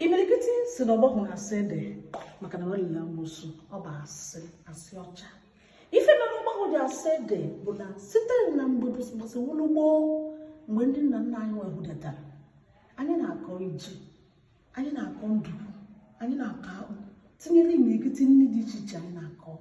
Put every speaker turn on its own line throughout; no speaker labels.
imirikiti si na ọgbahụ na-asị ede maka na wa na-eli amụsụ ọ bụ asị asị ọcha ife mere ọgbahụ dị asị ede bụ na site na mgbe bụsịbụsị wụlụ gboo mgbe ndị nna nna anyị wehudatara anyị na-akọ ji anyị na-akọ ndukwu anyị na-akọ akpụ tinyere imirikiti nri dị iche iche anyị na-akọ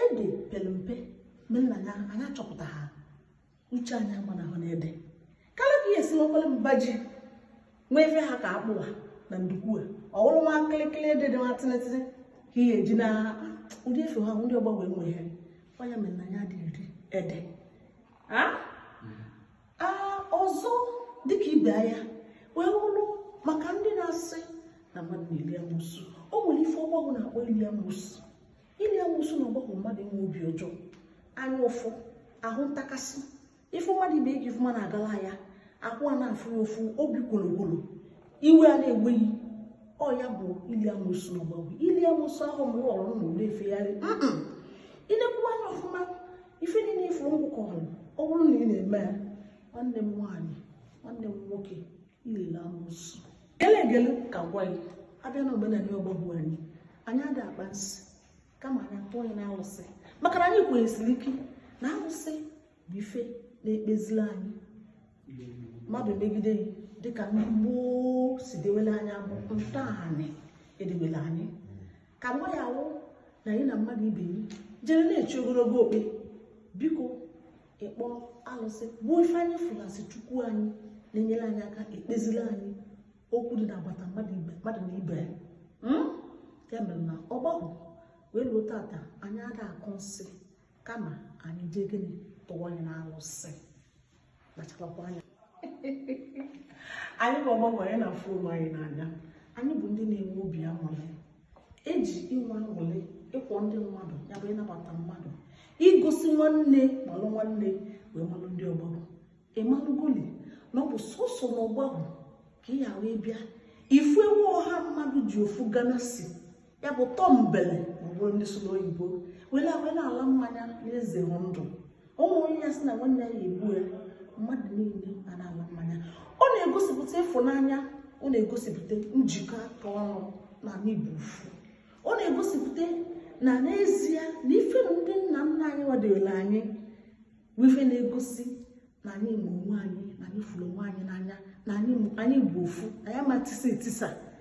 ede pere mpe mere na ya anyị achọpụta ha uche anyị agbanahụ n'ede kala ka ihe esimekwala mba ji nwee ife ha ka akpụwa na ndukwu a ọ wụrụ nwa kịlịkịlị ede dị nwa tịlịtịlị ka ihe eji na ụdị efe ha ndị ọgbanwe nwe ha ọ ya mere na anyị adị eri ede ọzọ dịka ibe anyị wee wụrụ maka ndị na-asị na mmadụ na-eli amụsụ o nwere ife ọgbahụ na-akpọ ili amụsụ Ili amụsụ na ọgbahụ mmadụ inwe obi ọjọọ anya ụfụ ahụ ntakasị ịfụ mmadụ ibe gị ife ọma na-agala ya ahụ a na-afụ gị ụfụ obi kwologwolo iwe a na-ewe gị ọ ya bụ ili amụsụ na ọgbahụ ili amụsụ ahụ m ghọrọ m na efegharị i lekwuwa anya ọfụma ife niile ifuru ngwụkọ ọrụ ọ bụrụ na ị na-eme ya nwanne m nwaanyị nwanne m nwoke i le-eli amụsụ gele egele ka gwa gị a bịa na omenala ọgbahụ anyị anyị ada akpa nsị kama anyị atụ onye na alụsị maka na anyị kwenyesiri ike na alụsị bụ ife na-ekpezila anyị mmadụ megide gị dịka ndị gboo si dewele anyị abụ ntọanị e dewele anyị ka nwa ya wụ na anyị na mmadụ ibe anyị jere na-echi ogologo okpe biko ịkpọ alụsị bụ ife anyị fụlasị chukwu anyị na-enyere anyị aka ekpezili anyị okwu dị n'agbata mmadụ na ibe ya hmm? ya mere na ọgbahụ wee ruo tata anyị ada akọ nsị kama anyị jee gịnị tụwa onye na alụsị kpachakwa anya anyị bụ ọgbahụ anyị na-afụ onwe anyị n'anya anyị bụ ndị na-enwe obi aṅụrị eji inwe aṅụrị ịkwọ ndị mmadụ ya bụ ịnabata mmadụ igosi nwanne malụ nwanne wee malụ ndị ọgbahụ ị malụgoli na ọ bụ sọsọ na ọgbahụ ka ị ya wee bịa ị fụwa ọha mmadụ ji ofu glass ya bụ tumbler ma ọ bụrụ ndị sụlụ oyibo wela wela ala mmanya na-eze ndụ ụmụ onye ya sị na nwanne ya egbu ya mmadụ niile a na-ala mmanya ọ na-egosipụta ịfụnanya ọ na-egosipụta njikọ aka ọnụ na anyị bụ ofu ọ na-egosipụta na n'ezie na ife ndị nna nna anyị wa dewere anyị bụ ife na-egosi na anyị ma onwe anyị na anyị fụrụ onwe anyị n'anya na anyị bụ ofu anyị ama tisa etisa